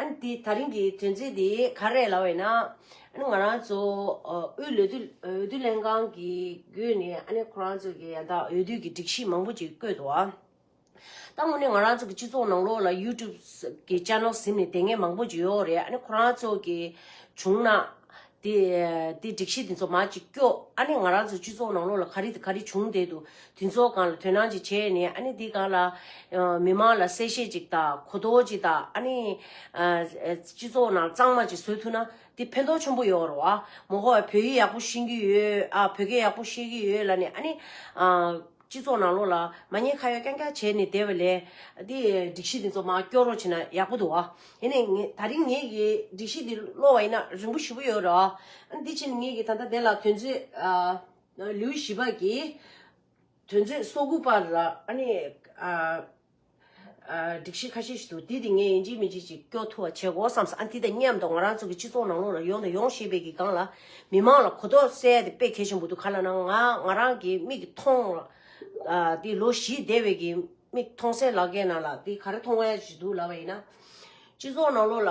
ཨན་དེ་ད་རིང་གི་དོན་ཚིག་དེ་ག་རེད་ལབ་བས་ན། ཨན་ང་རང་ཚོ་དབུས་ལོ་དུ་འོས་བསྡུ་ལྷན་ཁང་གི་སྒོས་ནས་ཨ་ནེ་ཁོ་རང་ཚོ་གི་ཡང་དག་འོས་བསྡུ་གི་སྒྲིག་གཞི་མང་པོ་ཅིག་བཀོད་འདུག་ཨ། ད་དངོས་གནས་ང་རང་ཚོ་གི་སྤྱི་ཚོགས་ནང་ལོགས་ལ YouTube གི Channel ཟིན་ནས་དེ་སྔའི་མང་པོ་ཅིག་ཡོད་རེད་ཨ་ནེ་ཁོ་རང་ཚོ་གི་བྱུང་ན། དེ་དེ་སྒྲིག་གཞི་དེ་ཚོ་མ་གཅིག་སྐྱོ། ཨ་ནི་ང་རང་ཚོའི་སྤྱི་ཚོགས་ནང་ལོགས་ལ་ག་རི་ག་རི་བྱུང་བསྡད་འདུག་དེ་ཚོ་གང་ལ་དོན་སྣང་ཅིག་བྱས་ནས་ཨ་ནི་དེ་གང་ལ། མི་མང་ལ་གསལ་བཤད་ཅིག་དང་གོ་རྟོགས་ཅིག་དང་ཨ་ནི། སྤྱི་ཚོགས་ནང་གཙང་མ་ཅིག་བཟོས་ཐུབ་ན་དེ་ཕན་ཐོགས་ཆེན་པོ་ཡོང་རོགས་ཨ། མོ་ཧོ་ཨ་བོད་ཡིག་ཡག་པོ་ཤེས་ཀྱི་ཡོད་ཨ་བོད་སྐད་ཡག་པོ་ཤེས་ཀྱི་ཡོད་ལ་ནི་ཨ་ནི། སྤྱི་ཚོགས་ནང་ལོགས་ལ་མ་ཉེས་ཁ་ཡོག་རྐྱང་རྐྱང་བྱས་ནས་བསྡད་པ་ལས། འདིས་སྒྲིག་གཞི་འདི་ཚོ་མ་སྐྱོར་རོགས་བྱས་ན་ཡག་པོ་འདུག་ཨ། ཡིན་ནས་ངས་ད་རིང་ངེད་ཀྱིས་སྒྲིག་གཞི་འདི་སློག་བ་ཡིན་ན་རིང་པོ་བཞི་པོ་ཡོད་རེད་ཨ། དེ་ཕྱིར་ངེད་ཀྱིས་ད་ལྟ་དེ་ལ་དོན་རྩོད་ཨ། ལིའུ་ཞི་པགས་ཀྱིས། དོན་རྩོད་སོ་དགུ་པར། ཨ་ནི། སྒྲིག་གཞི་ཁ་ཤས་ཤིག་འདུག་དེ་དེ་ངས་ཡིན་གཅིག་མིན་གཅིག་ཅིག་སྐྱོག་ཐུ་བ་བྱེད་དགོ་བསམས་སོང་ཨ་འདི་དང་མཉམ་དུ་ང་རང་ཚོ་གི་སྤྱི་ཚོགས་ནང་ལོག་ལ་ཡོང་དང་ཡོང་ཞེས་པའི་གི་སྒང་ལ་མི་མང་ལ་གོ་རྟོགས་གསལ་དེ་དཔེ་གལ་ཆེན་པོ་འདུག་ག་ལ་ན་ང་ང་རང་གི་མིག་གི་མཐོང་དེ་ལོ་བཞི་བསྡད་བའི་གི་མིག་མཐོང་སའི་ལག་ཁའི་ནང་ལ་དེ་ག་རེ་མཐོང་བ་ཞིག་འདུག་ལབ་པ་ཡིན་ན། སྤྱི་ཚོགས་ནང་ལོག་ལ།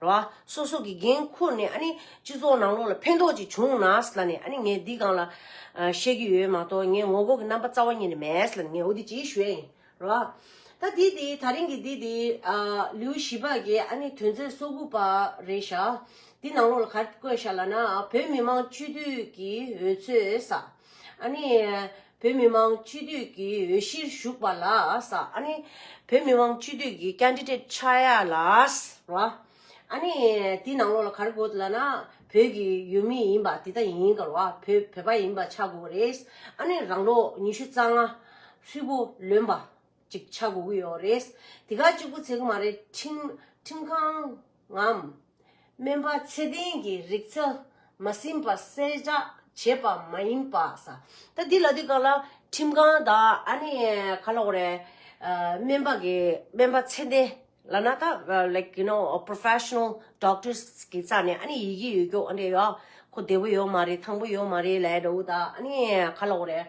ར་བ། སོ་སོ་གི་འགན་ཁུར་ནས་ཨ་ནི་སྤྱི་ཚོགས་ནང་ལོགས་ལ་ཕན་ཐོགས་ཅིག་བྱུང་ན་ས་ལ་ནས་ཨ་ནི་ངས་འདི་གང་ལ། བཤད་ཀྱི་ཡོད་མ་གཏོགས་ངས་ངོ་རྒོལ་གྱི་རྣམ་པ་རྩ་བ་ཉིད་ནས་མེད་ས་ལ་ནས་ངས་འོ་དེ་ཅིའི་ཞུ་ཡ་ཡིན་ར་བ། ད་དེ་དེ་ད་རིང་གི་དེ་དེ། ལིའུ་ཞི་པཱ་གྱི་ཨ་ནི་དོན་ཚན་སོ་དགུ་པ་རེད་ཤག་དེ་ནང་ལོགས་ལ་གར་བཀོད་ཤག་ལ་ན་བོད་མི་མང་སྤྱི་འཐུས་ཀྱི་འོས་ཚོས་ས་ཨ་ནི། བོད་མི་མང་སྤྱི་འཐུས་ཀྱི་འོས་གཞིར་ཞུགས་པ་ལགས། ཨ་ནི། བོད་མི་མང་སྤྱི་འཐུས་ཀྱི Candidate ཆགས་ཡ་ལགས། ཨ་ནི། དེའི་ནང་ལོགས་ལ་ག་རེ་དགོས་ལ་ན། བོད་ཀྱི་ཡུལ་མི་ཡིན་པ་དེ་དག་ཡིན་ག་རེ་བ། བོད་བོད་པ་ཡིན་པ་ཆགས་དགོས་རེད། ཨ་ནི་རང་ལོགས་ཉི་ཤུ་རྩ་ལྔ། ཧྲིལ་པོ་ལོན་པ། ཅིག་ཆགས་དགོས་ཀྱི་ཡོད་རེད། དེ་ག་གཅིག་པུ་ཚེ་ག་མ་རེད་ཁྲིམས་ཁྲིམས་ཁང། ངམ། སྨན་པ་ཚད་ལྡན་གྱི་རིག་རྩལ་མ་ཟིན་པ་གསལ་བསྒྲགས་བྱས་པ་མ་ཡིན་པ་ས། ད་འདི་ལ་འདི་ག་ལ་ཁྲིམས་ཁང་དང་ཨ་ནི་ག་ལ་འོ་རེད། སྨན་པ་གི་སྨན་པ་ཚད་ལྡན་ལ་ན་ད like you know professional doctors གི་རྩ་ནས་ཨ་ནི་ཡི་གེ་ཡོད་རྒྱུ་འོ་འདྲེ་ཡོད། ཁོ་བདེ་བོ་ཡོད་མ་རེད་ཐང་པོ་ཡོད་མ་རེད་ལས་འགྲོ་འུ་ད་ཨ་ནི་ག་ལ་འོ་རེད།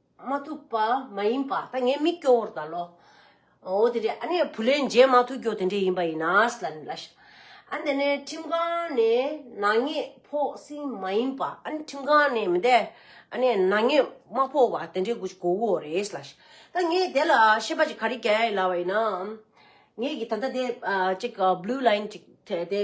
མ་ཐུབ་པ་མ་ཡིན་པ་ད་ངས་མི་སྐྱོ་བོར་ད་ལོ། འོ་དེ་རེད་ཨ་ནེ་བུ་ལེན་མཇལ་མ་ཐུབ་སྐྱོ་དེ་འདྲས་ཡིན་པ་ཡིན་ནའས་ལ་ལ་ཞེས། ཨ་དེ་ནས་ཁྲིམས་ཁང་ནས་ནག་ཉེས་ཕོག་ཟིན་མ་ཡིན་པ་ཨ་ནེ་ཁྲིམས་ཁང་ནས་མི་དེ་ཨ་ནེ་ནག་ཉེས་མ་ཕོག་པ་དེ་འདྲས་གོ་ཅིག་གོ་བོ་རེད་ལ་ཞེས། ད་ངས་དེ་ལ་ཤེས་པ་ཅིག་ག་རེ་བྱ་ཡ་ཡིན་ལབ་པ་ཡིན་ནའང། ངེད་ཀྱིས་ད་ལྟ་དེ་ཅིག blue line ཅིག་དེ་དེ་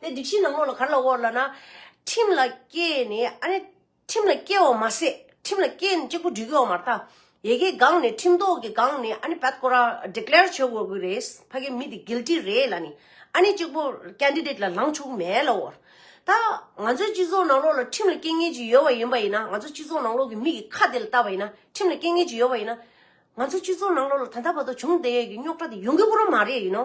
དེ་སྒྲིག་གཞིའི་ནང་མོ་ལ་གར་ལ་དབོར་ལ་ན། ཁྲིམས་ལ་སྐྱེ་ནས་ཨ་ནི། ཁྲིམས་ལ་སྐྱེ་བ་མ་ཟད་ཁྲིམས་ལ་སྐྱེ་ནས་གཅིག་པུ་འགྲིག་ཡོང་མ་ཐག། ཡེ་གེའི་སྒང་ནས་ཁྲིམས་ཐོག་གི་སྒང་ནས་ཨ་ནི་བད་ཀོ་ར Declare བྱེད་དགོས་ཀྱི་རེད། ཕ་གི་མི་དེ Guilty རེད་ལ་ནི། ཨ་ནི་གཅིག་པུ Candidate ལ་ལངས་ཆོག་གི་མེད་ལ་དབོར། ད། ང་ཚོའི་སྤྱི་ཚོགས་ནང་ལོགས་ལ་ཁྲིམས་ལ་སྐྱེ་ངེས་ཀྱི་ཡོད་བ་ཡིན་པ་ཡིན་ན་ང་ཚོ་སྤྱི་ཚོགས་ནང་ལོགས་ཀྱི་མི་གི་ཁ་དེ་ལ་བལྟ་བ་ཡིན་ན་ཁྲིམས་ལ་སྐྱེ་ངེས་ཀྱི་ཡོད་བ་ཡིན་ན། ང་ཚོ་སྤྱི་ཚོགས་ནང་ལོགས་ལ་ད་ལྟ་བར་དུ་བྱུང་བསྡད་ཡོད་ཀྱི་རྙོག་དྲ་དེ་ཡོང་གི་པོ་རང་མ་རེད་ཡིན་ནོ།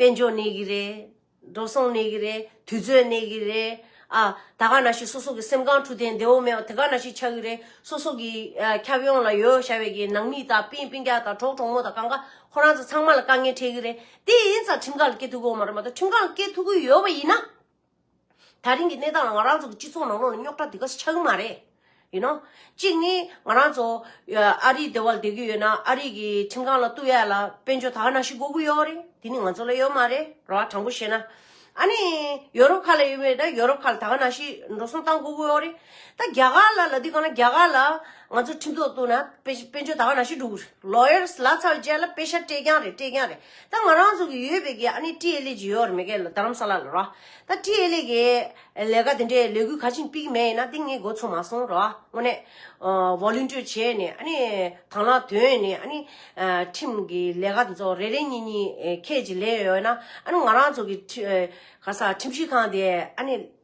དཔལ་འབྱོར་གནས་གི་རེད། འགྲོ་སོང་གནས་གི་རེད། དུས་ཚོད་གནས་གི་རེད། ཨ། ད་ག་ན་ཞིག་སོ་སོ་གི་སེམས་ཁང་འཁྲུག་ཐེངས་བདེ་བོ་མེད་པ་དེ་ག་ན་ཞིག་ཆགས་གི་རེད། སོ་སོ་གི་ཁྱབ་ཡོངས་ལ་ཡོད་བྱ་བའི་གི་ནང་མི་དང་པིན་པིན་སྐྱ་དང་གྲོགས་གྲོགས་མོ་དང་གང་ག་ཁོ་རང་ཚོ་ཚང་མ་ལ་དཀའ་ངལ་འཕྲད་གི་རེད། དེ་ཡིན་ཙང་ཁྲིམས་ཁང་ལ་སྐད་ཐུག་གི་ཡོང་མ་རེད་མ་གཏོགས་ཁྲིམས་ཁང་ལ་སྐད་ཐུག་གི་ཡོད་པ་ཡིན་ན། ད་རིང་གི་གནས་སྟངས་ལ་ང་རང་ཚོ་གི་སྤྱི་ཚོགས་ནང་ལོགས་ལ་རྙོག་དྲ་དེ་ག་ཆགས་ཀྱི་མ་རེད། ཡུ་ནོ། གཅིག་ནི་ང་རང་ཚོ་ཨ་རིའི་སྡེ་བ་ལ་བསྡད་ཀྱི་ཡོད་ན་ཨ་རིའི་གི་ཁྲིམས་ཁང་ལ་བསྟུད་ཡག་ལ་དཔལ་འབྱོར་ད་ག་ནང་བཞིན་འགོ་གི་ཡོད་རེད། དེ་ནི་ང་ཚོ་ལ་ཡོད་མ་རེད་ར་བ། དྲང་པོ་བཤད་ན། ཨ་ནི་ཡོ་རོབ་ཁག་ལ་ཡོད་མེད་ན་ཡོ་རོབ་ཁག་ལ་ད་ག་ནང་བཞིན་འགྲོ་སོང་བཏང་འགོ་གི་ཡོད་རེད། ད་རྒྱ་གར་ལ་ལ་དེ་ག་ན་རྒྱ་གར་ལ་ང་ཚོ་ཁྲིམས་ཐོག་བསྟུད་ན་དཔལ་དཔལ་འབྱོར་ད་ག་ནང་བཞིན་འགྲོ་གི་རེད། Lawyers ལ་ཚ་བའི་རྗེས་ལ་དཔེ་ཤར་སྤྲད་རྐྱང་རེད་སྤྲད་རྐྱང་རེད། ད་ང་རང་ཚོ་གི་ཡོད་པའི་གི་ཨ་ནི་ཀྲི་ཨེ་ལེ་ཇི་ཡོར་མེ་གའི་ལ་རྡ་རམ་ས་ལ་ལ་ར། ད་ཀྲི་ཨེ་ལེ་གི་ལས་ཀ་དེ་འདྲའི་ལས་འགུལ་ག་ཅིང་སྤིག་མེ་ཡིན་ན་དེ་ངས་འགོ་ཚུགས་མ་སོང་ར་བ་དངོས་གནས། Volunteer བྱས་ནས་ཨ་ནི་དང་ལ་དོན་ནི་ཨ་ནི། ཁྲིམས་གི་ལས་ཀ་འདི་ཚོ་རེ་རེ་གཉིས་གཉིས་ཁད་ཀྱི་ལས་ཡོད་ན་ཨ་ནི་ང་རང་ཚོ་གི་ཁྲི་ག་ས་ཁྲིམས་ཞིབ་ཁང་དེ་ཨ་ནི།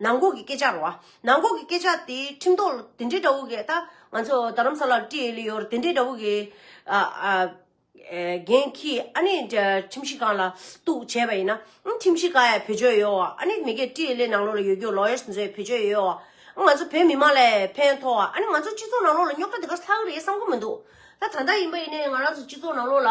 ནང་འགོག་གི་སྐད་ཆ་རོ། ནང་འགོག་གི་སྐད་ཆ་དེ་ཁྲིམས་ཐོག་ལ་དེ་འདྲའི་འདྲ་བོ་གས་ད་ང་ཚོ་རྡ་རམ་ས་ལར་བཀྲིས་ཨེ་ལི་ཡོར་དེ་འདྲའི་འདྲ་བོ་གས་རྒན་ཁྱི་ཨ་ནི་ཁྲིམས་གཞི་ཁང་ལ་གཏུགས་བྱས་པ་ཡིན་ན་ཨང་ཁྲིམས་གཞི་ཁ་ཡ་བེད་སྤྱོད་ཡོད་བ་ཨ་ནི་མི་གས་བཀྲིས་ཨེ་ལི་ནང་ལོགས་ལ་ཡོད་རྒྱུ Lawyers མཛོད་བེད་སྤྱོད་ཡོད་བ་ཨང་ང་ཚོ་བོད་མི་མང་ལས་ཕན་ཐོག་བ་ཨ་ནི་ང་ཚོ་སྤྱི་ཚོགས་ནང་ལོགས་ལ་རྙོག་དྲ་དེ་ག་ལྷག་རེད་བསམ་གོ་མི་འདུག་ད་ད་ལྟ་ཡིན་པ་ཡིན་ནའི་ང་རང་ཚོ་སྤྱི་ཚོགས་ནང་ལོགས་ལ་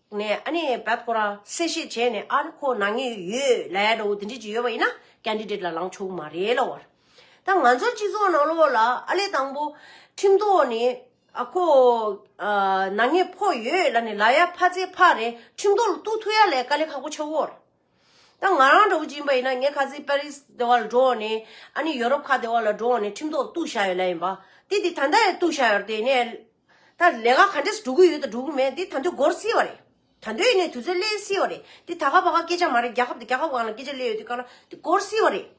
ནས་ཨ་ནི་བད་ཁོ་ར་གསལ་བཤད་བྱས་ནས་ཨ་རི་ཁོ་ནང་ངེས་ཡོད་ལས་འགྲོ་དེ་འདྲས་ཀྱི་ཡོད་པ་ཡིན་ན Candidate ལ་ལངས་ཆོག་མ་རེད་ལ་བར་ད་ང་ཚོ་སྤྱི་ཚོགས་ནང་ལོགས་ལ་ཨ་ལས་དང་པོ་ཁྲིམས་ཐོག་ནས་ཨ་ཁོ་ནང་ངེས་ཕོག་ཡོད་ལ་ནི་ལ་ཡ་ཕ་ཚེ་ཕ་རེད་ཁྲིམས་ཐོག་ལ་གཏུག་ཐུག་ཡ་ལས་དཀའ་ལས་ཁག་པོ་ཆེ་བོར། ད་ང་རང་འདྲ་བོ་སྦྱིན་པ་ཡིན་ན་ངས་ཁ་ཟས་པར་རིས་སྡེ་བ་ལ་འགྲོ་འོང་ནས་ཨ་ནི་ཡོ་རོབ་ཁ་སྡེ་བ་ལ་འགྲོ་འོང་ནས་ཁྲིམས་ཐོག་གཏུགས་བཞག་ཡོད་ལ་ཡིན་པ་དེ་དེ་ད་ལྟ་ཡང་གཏུགས་བཞག་ཡོད་དེ་ནས་ད་ལས་ཀ་ག་འདྲས་སུ་འགྲོ་གི་ཡོད་དང་འགྲོ་གི་མེད་དེ་ད་འདོད་སྒོར་སེལ་བ་རེད་ད་འདོད་ཡིན་ནས་དུས་ཚོད་སླེ་སེལ་བ་རེད་དེ་ད་ག་བ་ག་སྐད་ཆ་མ་རེད་རྒྱ་ཁབ་དང་རྒྱ་ཁབ་གང་ལ་སྐད་ཆ་སླེ་ཡོད་དེ་གང་ན་དེ་སྒོར་སེལ་བ་རེད།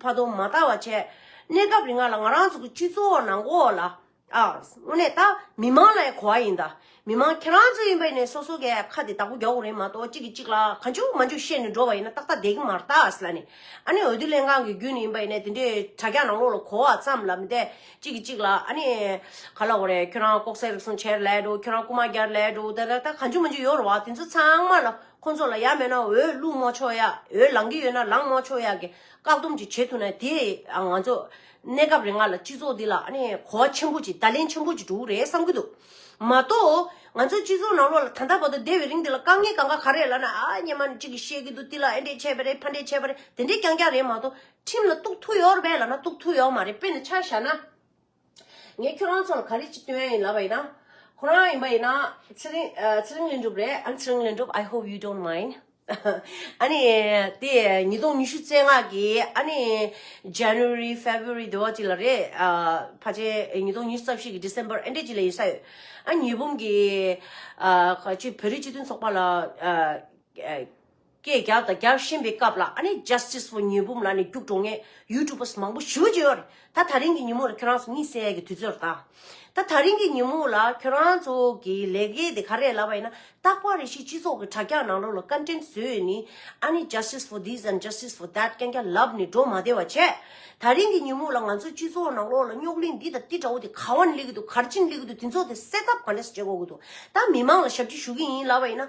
བར་དུ་མ་བལྟ་བར་བྱས། གནས་སྐབས་རིང་ང་ལ་ང་རང་ཚོ་གི་སྤྱི་ཚོགས་ནང་གོ་ལ། ཨ། དངོས་གནས་ད་མི་མང་ལ་ཡང་གོ་བ་ཡིན་ད། མི་མང་ཁྱེད་རང་ཚོ་ཡིན་པ་ཡིན་ནས་སོ་སོ་གས་ཁ་དེ་དག་པོ་རྒྱག་དགོས་རེད་མ་གཏོགས་གཅིག་གིས་གཅིག་ལ་ག་འཇུག་མ་འཇུག་བཤད་ནས་འགྲོ་བ་ཡིན་ན་ཏག་ཏག་བསྡད་ཀྱི་མ་རེད་ད་ཨ་སི་ལ་ནི། ཨ་ནི་འོས་བསྡུ་ལྷན་ཁང་གི་རྒྱུན་ནི་ཡིན་པ་ཡིན་ནས་དེ་འདྲའི་དྲ་རྒྱ་ནང་ལོགས་ལ་གོ་བ་ཙམ་ལ་མི་བལྟས་གཅིག་གིས་གཅིག་ལ་ཨ་ནི། ག་ལ་འོ་རེད་ཁྱོད་རང་ལྐོག་ཟ་རིགས་གསུམ་བྱས་ར་ལས་འགྲོ་ཁྱོད་རང་རྐུ་མ་རྒྱར་ལས་འགྲོ་ད་ད་ད་ག་འཇུག་མ་འཇུག་ཡོད་རེད་བ་དེ་ཚོ་ཚང་མ་ལ། ཁོ་ཚོ་ལ་ཡག་མེད་ན་འོས་བླུགས་མོ་ཆོག་ཡག་འོས་ལང་གི་ཡོད་ན་ལང་མོ་ཆོག་ཡག་གི་བཀག་སྡོམ་ཅིག་བྱེད་ཐུབ་ན་དེས་ང་ཚོ་གནས་སྐབས་རེ་ལྔ་ལ་སྤྱི་ཚོགས་འདི་ལ་ཨ་ནི་གོ་བ་ཆེན་པོ་ཅིག་བརྡ་ལན་ཆེན་པོ་ཅིག་འགྲོ་གི་རེད་བསམ་གྱི་འདུག་མ་གཏོགས་ང་ཚོ་སྤྱི་ཚོགས་ནང་ལོགས་ལ་ད་ལྟ་བར་དུ་བསྡད་པའི་རིང་འདི་ལ་དཀའ་ངལ་གང་ག་ག་རེ་ལ་ན་ཨ་སྙེ་མ་ཅིག་གིས་བཤད་ཀྱི་འདུག་དེ་ལ་ཨེ་འདྲས་བྱས་པ་རེད་ཕ་འདྲས་བྱས་པ་རེད་དེ་འདྲས་ཀྱང་ཀྱང་རེད་མ་གཏོགས་ཁྲིམས་ལ་གཏུགས་ཐུག་ཡོད་རེད་ལ་ན་གཏུགས་ཐུག་ཡོད་མ་རེད་དཔེར་ན་ཆ་བཞག་ན། ངས་ཁྱོད་རང་ཚོར་ག་རེ་གཅིག་སྟོན་ཡིན་ལབ་པ་ཡིན་ན། ཁོ་རང་ཡིན་པ་ཡིན་ན། ཚེ་རིང། ཚེ་རིང་ལེན་གྲུབ་རེད་ཨང་ཚེ་རིང་ལེན་གྲུབ I hope you don't mind ཨ་ནི། དེ་ཉིས་སྟོང་ཉི་ཤུ་རྩེ་ལྔ་གི་ཨ་ནི། January February དེ་བ་གཅིག་ལ་རེད། ཕ་ཆེ་ཉིས་སྟོང་ཉི་ཤུ་རྩ་བཞི་གི December ཨེ་འདྲས་གཅིག་ལ་ཡིན་ས་ཡོད། ཨ་ཉི་འབུམ་གྱི། བོད་རིགས་སྤྱི་མཐུན་ཚོགས་པ་ལ། སྐད་རྒྱག་དང་རྒྱག་བཞིན་པའི་སྐབས་ལ་ཨ་ནེ Justice for ཉོས་འབུམ་ལགས་ནས་རྒྱུགས་འབྲོང་ངས YouTubers མང་པོ་ཞི་བ་བྱས་ཡོད་རེད་ད་ད་རིང་གི་ཉིན་མོ་ལ་ཁྱོད་རང་ཚོ་གཉིད་སད་ཀྱི་དུས་ཚོད་རེད་ད་ད་ད་རིང་གི་ཉིན་མོ་ལ་ཁྱོད་རང་ཚོ་གི་ལས་ཀའི་དེ་ག་རེད་ལབ་པ་ཡིན་ན་རྟག་པར་རེ་ཞིག་སྤྱི་ཚོགས་ཀྱི་དྲ་རྒྱ་ནང་ལོགས་ལ་བཀའ་དྲིན་བཟོས་ཡོད་ནི་ཨ་ནེ Justice for this and Justice for that རྐྱང་རྐྱང་ལབ་ནས་འགྲོ་མ་བདེ་བ་བྱས་ད་རིང་གི་ཉིན་མོ་ལ་ང་ཚོ་སྤྱི་ཚོགས་ནང་ལོགས་ལ་རྙོག་གླིང་འདི་དང་དེ་འདྲ་བོ་དེ་ག་བ་ནས་སླེབས་ཀྱི་འདུག་གར་ཅི་ནས་སླེབས་ཀྱི་འདུག་དེ་ཚོ་དེ་སེལ་ཐབས་ག་འདྲས་སུ་བྱེད་དགོས་ཀྱི་འདུག་ད་མི་མང་ལ་ཞབས་ཕྱི་ཞུ་གི་ཡིན་ལབ་པ་ཡིན་ན་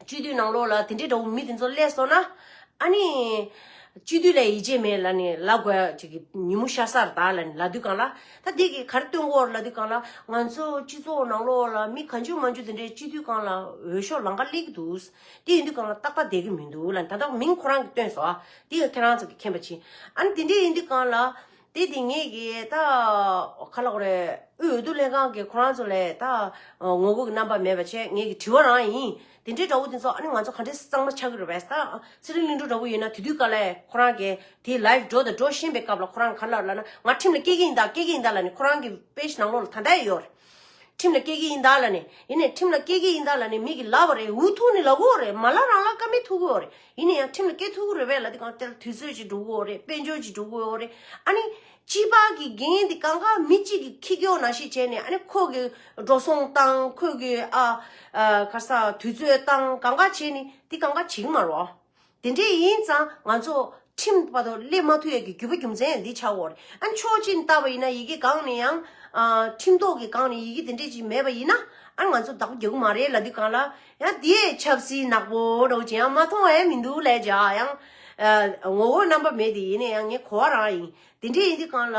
བཅུད་བསྡུས་ནང་ལོགས་ལ་དེ་འདྲའི་དགྲ་བོ་མི་དེ་ཚོ་བསླད་སོང་ན། ཨཱ་ནི། བཅུད་བསྡུས་ལ་ཡིད་ཆེས་མེད་ལ་ནི་ལ་དགོས་ཅིག་གི་ཉིན་མོ་ཤ་སར་དག་ལ་ནི་ལ་དུས་གང་ལ། ད་དེ་གི་གར་སྟོན་སྐོར་ལ་དུས་གང་ལ། ང་ཚོ་སྤྱི་ཚོགས་ནང་ལོགས་ལ་མི་ག་འཇུ་མ་འཇུ་དེ་འདྲའི་བཅུད་བསྡུས་གང་ལ་འོས་ཤོག་ལང་ཀ་བསླེག་འདུག། དེ་ཡིན་དུས་གང་ལ་རྟག་པ་བསྡད་གི་མི་འདུག་ལ་ད་ལྟ་མིང་ཁོ་རང་གི་བཏོན་སོ། དེ་ཡང་ཁྱེད་རང་ཚོ་གི་མཁྱེན་པ་ཕྱིན། ཨཱ་ནི་དེ་འདྲས་ཡིན་དུས་གང་ལ། དེ་དེ་ངེས་ཀྱི་ད་ཁ་ལག་རེད། དབུས་འོས་བསྡུ་ལྷན་ཁང་གི་ཁོ་རང་ཚོ་ལས་ད་ངོ་རྒོལ་གྱི་རྣམ་པ་མེད་པ་ཆེད་ངེས་ཀྱི་དྲི་བ་རང་ཡིན། དེ་འདྲའི་དགྲ་བོ་དེ་ཚོ་ཨ་ནི་ང་ཚོ་ག་འདྲའི་གཙང་མ་ཆགས་ཀྱི་རེད་བས། ད་ཚེ་རིང་གླིང་སྒྲུང་འདྲ་པོ་ཡིན་ན་དེ་དུས་ག་ལ་ཡིན་ཁོ་རང་གི་དེའི live འགྲོ་དང་འགྲོ་བཞིན་པའི་སྐབས་ལ་ཁོ་རང་ག་ལ་ལ་ན་ང་ཁྲིམས་ལ་སྐྱེལ་གྱི་ཡིན་ད་སྐྱེལ་གྱི་ཡིན་ད་ལ་ནི་ཁོ་རང་གི page ནང་ལོགས་ལ་ད་ལྟའི་ཡོད་རེད། ཁྲིམས་ལ་སྐྱེལ་གྱི་ཡིན་ད་ལ་ནི་ཡིན་ནས་ཁྲིམས་ལ་སྐྱེལ་གྱི་ཡིན་ད་ལ་ནི་མིག་གི་ལ་བ་རེད་འུ་ཐུག་ནི་ལ་གོ་རེད་མ་ལ་རང་ལ་ཀ་མེད་ཐུག་གི་ཡོད་རེད། ཡིན་ན་ཡང་ཁྲིམས་ལ་སྐྱོ་ཐུག་རེད་བས་ལ་དེ་གང་སྟེར་དུས་ཚོད་ཀྱི་འགྲོ་གི་འོག་རེད་དཔལ་འབྱོར་གྱི་འགྲོ་གི་འོག་རེད་ཨ་ནི་སྤྱི་པ་གི་འགན་དེ་གང་ག་མི་གཅིག་གི་ཁྱི་སྐྱོ་ན་ཞིག་བྱས་ནས་ཨ་ནི་ཁོ་གི་འགྲོ་སོང་བཏང་ཁོ་གི་ཨ་ག་ས་དུས་ཚོད་བཏང་གང་ག་བྱས་ནི་དེ་གང་ག་བྱིང་མ་རོགས་དེ་འདྲས་ཡིན་ཙང་ང་ཚོ་ཁྲིམས་པ་དོ་སླེབས་མ་ཐུ་ཡ་གི་རྒྱུ་པ་རྒྱུ་མཚན་ཡང་འདི་ཆགས་འོག་རེད་ཨ་ནི་ཕྱོགས་གཅིག་ནས་བལྟ་བ་ཡིན་ན་ཡི་གེ་གང་ནས་ཡང་ཁྲིམས་ཐོག་གི་གང་ནས་ཡི་གེ་དེ་འདྲས་ཅིག་མེད་པ་ཡིན་ན་ཨ་ནི་ང་ཚོ་བདག་པོ་རྒྱག་གི་མ་རེད་ལ་དེ་གང་ལ་ཡང་དེས་ཆབ་སྲིད་ནག་པོ་སྒྲོག་ཅིང་ཡང་མ་མཐོང་བ་ཡང་མི་འདུག་ལས་བྱ་ཡང། ངོ་བོ་རྣམ་པ་མེད་དེ་ཡིན་ན་ཡང་ངའི་གོ་བ་རང་ཡིན། དེ་འདྲས་ཡིན་དུས་གང་ལ།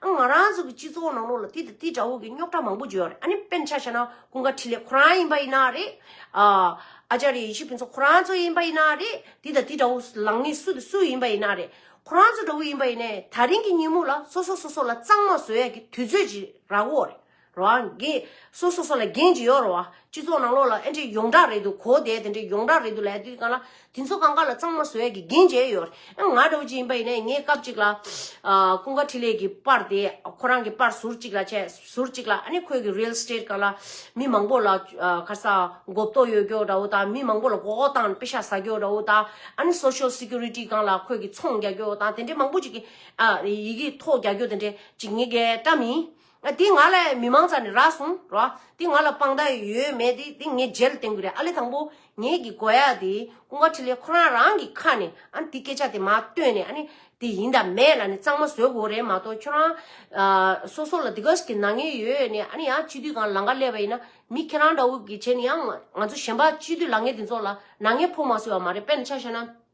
ང་རང་ཚོ་གི་སྤྱི་ཚོགས་ནང་ལོགས་ལ་དེ་དང་དེའི་འདྲ་བོ་གི་རྙོག་དྲ་མང་པོ་བརྗོད་ཡོང་རེད་ཨ་ནི་དཔེར་ན་ཆ་བྱས་ན་ཀུན་དགའ་འཕྲིན་ལས་ཁོ་རང་ཡིན་པ་ཡིན་ན་རེད། ཨ་ཅར་ཡེ་ཤེས་ཕུན་ཚོགས་ཁོ་རང་ཚོ་ཡིན་པ་ཡིན་ན་རེད་དེ་དང་དེའི་འདྲ་བོ་ལངས་ནི་སུ་དང་སུ་ཡིན་པ་ཡིན་ན་རེད། ཁོ་རང་ཚོ་འདྲ་བོ་ཡིན་པ་ཡིན་ནས་ད་རིང་གི་ཉིན་མོ་ལ་སོ་སོ་སོ་སོ་ལ་གཙང་མ་བཟོ་ཡ་གི་དུས་ཚོད་ཅིག་རག་འོ་རེད། རང་སྒེར་སོ་སོ་སོ་ལ་འགན་ཅི་ཡོད་རོགས། སྤྱི་ཚོགས་ནང་ལོགས་ལ་ཨེ་འདྲས་ཡོངས་གྲགས་རེད་འདུག་གོ་དེ་དེ་འདྲས་ཡོངས་གྲགས་རེད་འདུག་ལས་དུས་གང་ལ་དེ་ཚོ་གང་ག་ལ་གཙང་མ་བཟོ་ཡས་ཀྱི་འགན་བྱས་ཡོད། ཨེ་ང་འདྲ་བོ་ཅིག་ཡིན་པ་ཡིན་ནའི་ངས་སྐབས་ཅིག་ལ། ཀུན་དགའ་འཕྲིན་ལས་ཀྱི་པར་དེ་ཁོ་རང་གི་པར་ཟུར་ཅིག་ལ་བྱས་ཟུར་ཅིག་ལ་ཨ་ནི་ཁོས་ཀྱི་རིལ་སྟེར་གང་ལ་མི་མང་པོ་ལ་ཁར་ས་འགོ་བཏོ་ཡོད་ཀྱོ་འདྲ་བོ་དང་མི་མང་པོ་ལ་འགོག་བཏང་དཔེ་ཤ་ཟ་ཀྱོ་འདྲ་བོ་དང་ཨ་ནི Social Security གང་ལ་ཁོས་ཀྱི་ཚོང་རྒྱག་ཀྱོ་དང་དེ་འདྲས་མང་པོ་ཅིག་གི་ཡི་གི་ཐོག་རྒྱག་ཀྱོ་དེ་འདྲས་ཅིག་ངས་ཀྱི་བཀྲ་མིན། འདི་ང་ལ་མི་མང་ཙམ་ནས་རག་སོང་རོ། འདི་ང་ལ་དཔང་རྟགས་ཡོད་མེད་དེ་འདི་ངས་རྗེས་ལ་བསྟན་དགོས་རེད་ཨ་ལེ་དང་པོ་ངེད་ཀྱི་དགོས་ཡ་དེ་ཀུན་དགའ་ཁྲི་ལས་ཁོ་རང་རང་གི་ཁ་ནས་ཨ་འདི་སྐད་ཆ་དེ་མ་བཏོན་ནས་ཨ་ནི་དེ་ཡིན་དང་མེད་ལ་ནི་གཙང་མ་བཟོས་དགོས་རེད་མ་གཏོགས་ཁྱོད་རང། སོ་སོ་ལ་དེ་ག་ཞིག་གི་ནག་ཉེས་ཡོད་ནས་ཨ་ནི་ཡང་སྤྱི་འཐུས་གང་ལ་ལང་ཀ་སླེབས་པ་ཡིན་ན་མི་ཁྱེད་རང་འདྲ་བོ་གི་བྱས་ནས་ཡང་ང་ཚོ་གཞན་པ་སྤྱི་འཐུས་ལང་ངེ་དེ་ཚོ་ལ་ནག་ཉེས་ཕོག་མ་སོས་བ་མ་རེད་དཔེར་ན་ཆ་བཤད་ན།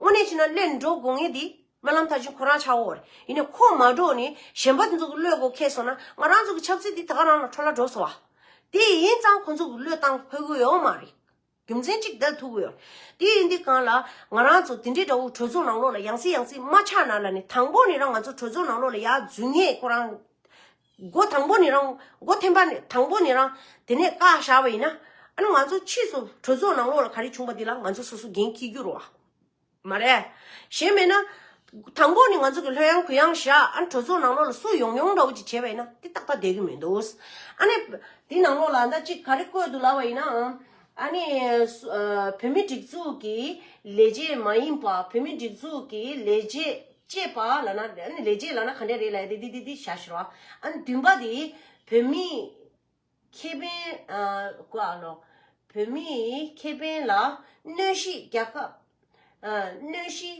དངོས་གནས་བྱས་ན་བློས་འགྲོ་དགོས་ངེས་འདི། སྨོན་ལམ་ད་གཅིག་ཁོ་རང་ཆགས་འོར། ཡིན་ནས་ཁོ་མ་འགྲོ་ནི་གཞན་པ་དེ་ཚོ་གི་བློས་གོ་ཁེ་སོང་ན་ང་རང་ཚོ་གི་ཆབ་སྲིད་འདི་ད་ག་རང་ལ་འཕྲོ་བརླག་འགྲོ་སོང་བ། དེ་ཡིན་ཙང་ཁོ་ཚོ་གི་བློས་བཏང་ཕོད་གི་ཡོད་མ་རེད། རྒྱུ་མཚན་གཅིག་བདལ་ཐུབ་གི་ཡོད། དེ་ཡིན་དེ་གང་ལ། ང་རང་ཚོ་དེ་འདྲའི་དགྲ་བོ་གྲོས་ཚོགས་ནང་ལོགས་ལ་ཡང་སྲིད་ཡང་སྲིད་མ་ཆགས་ན་ལ་ནི་དང་པོ་ནས་རང་ང་ཚོ་གྲོས་ཚོགས་ནང་ལོགས་ལ་ཡག་འཛུལ་ངེས་ཁོ་རང། སྒོ་དང་པོ་ནས་རང། སྒོ་ཐེམ་པ་ནས་དང་པོ་ནས་རང། དེ་ནས་བཀའ་བཞག་པ་ཡིན་ན། ཨ་ནུ་ང་ཚོ་ཕྱིས་སུ་གྲོས་ཚོགས་ནང་ལོགས་ལ་ག་རེ་བྱུང་པ་དེ་ལ་ང་ཚོ་སོ་སོ་འགན་འཁྱི་རྒྱུ་རོ། མ་རེད། གཞན་མེད་ན། དང་པོ་ནས་ང་ཚོ་གི་ལྷོད་ཡང་གུ་ཡང་བཞག་ཨ་ནུ་གྲོས་ཚོགས་ནང་ལོགས་ལ་སུ་ཡོང་ཡོང་འདྲ་བོ་ཅིག་བྱས་པ་ཡིན་ན་དེ་རྟག་པ་བསྡད་གི་མི་འདུག། ཨ་ནེ། དེ་ནང་ལོགས་ལ་ཟླ་གཅིག་ག་རེ་བཀོད་འདུག་ལབ་པ་ཡིན་ནའང། ཨ་ནེ། བོད་མི་སྒྲིག་འཛུགས་ཀྱི་ལས་བྱེད་མ་ཡིན་པ་བོད་མི་སྒྲིག་འཛུགས་ཀྱི་ལས་བྱེད། ཅེས་པ་ལ་ན་དེ་ནི་ལས་རྗེས་ལ་ན་ག་འདྲས་རེད་ལ་ཡ་དེ་དེ་དེ་དེ་ཞར་ཞུ་རོགས་ཨ་ནི་བདུན་པ་དེ་བོད་མིས་ཁེ་ཕན་ཀུ་ཨ་ལོ་བོད་མིས་ཁེ་ཕན་ལ་གནོད་གཞི་རྒྱག་སྐབས་གནོད་གཞི་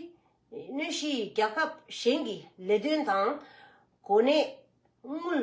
གནོད་གཞི་རྒྱག་སྐབས་གཞན་གྱི་ལས་དོན་དང་གོ་གནས་དངུལ།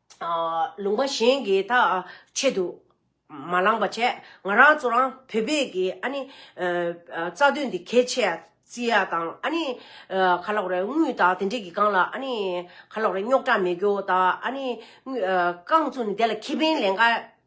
ལུང་པ་གཞན་གྱིས་ད་ཆེད་དུ་མ་བླངས་པ་བྱས། ང་རང་ཚོ་རང་བོད་པས་ཀྱི་ཨ་ནི། རྩ་དོན་འདི་གལ་ཆེ་ཡ་བརྩི་ཡ་དང་ཨ་ནི། ཁ་ལོག་རེ་དངུལ་དང་དེ་འདྲས་ཀྱི་སྒང་ལ་ཨ་ནི། ཁ་ལོག་རེ་རྙོག་དྲ་མེད་རྒྱུ་དང་ཨ་ནི། རྐང་ཚུགས་ནི་དེ་ལ་ཁེ་ཕན་ལས་འགའ་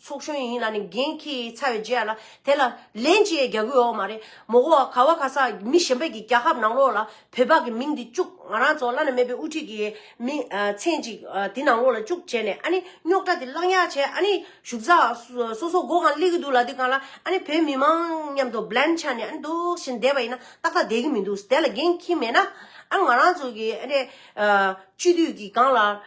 ཚོགས་གཞོན་ཡིན་ལ་ནི་འགན་ཁྱི་ཚ་བའི་རྗེས་ཡ་ལ་དེ་ལ་ལན་ཅི་ཡས་རྒྱག་གི་ཡོའོ་མ་རེད་མོ་གོ་བ་ག་བ་ག་ས་མི་གཞན་པད་ཀྱི་རྒྱ་ཁབ་ནང་ལོག་ལ་བོད་པ་གི་མིང་འདི་བཅུག་ང་རང་ཚོ་བླ་ན་མེད་པའི་དབུ་ཁྲིད་གི་མི་མཚན་ཅིག་དེ་ནང་ལོག་ལ་བཅུག་བྱས་ནས་ཨ་ནི་རྙོག་དྲ་དེ་བསླང་ཡག་བྱས་ཨ་ནི་བཞུགས་ས་སོ་སོ་སྒོ་གང་སླེ་གི་འདུག་ལ་དེ་གང་ལ་ཨ་ནི་བོད་མི་མང་མཉམ་དུ་བླན་ཆགས་ནས་ཨ་ནི་འདུག་བཞིན་བསྡད་པ་ཡིན་ན་ཏག་ཏག་བསྡད་གི་མི་འདུག་དེ་ལ་འགན་ཁྱི་མེད་ན་ཨ་ནི་ང་རང་ཚོ་གི་ཨ་ནི་སྤྱི་འཐུས་གི་གང་ལ་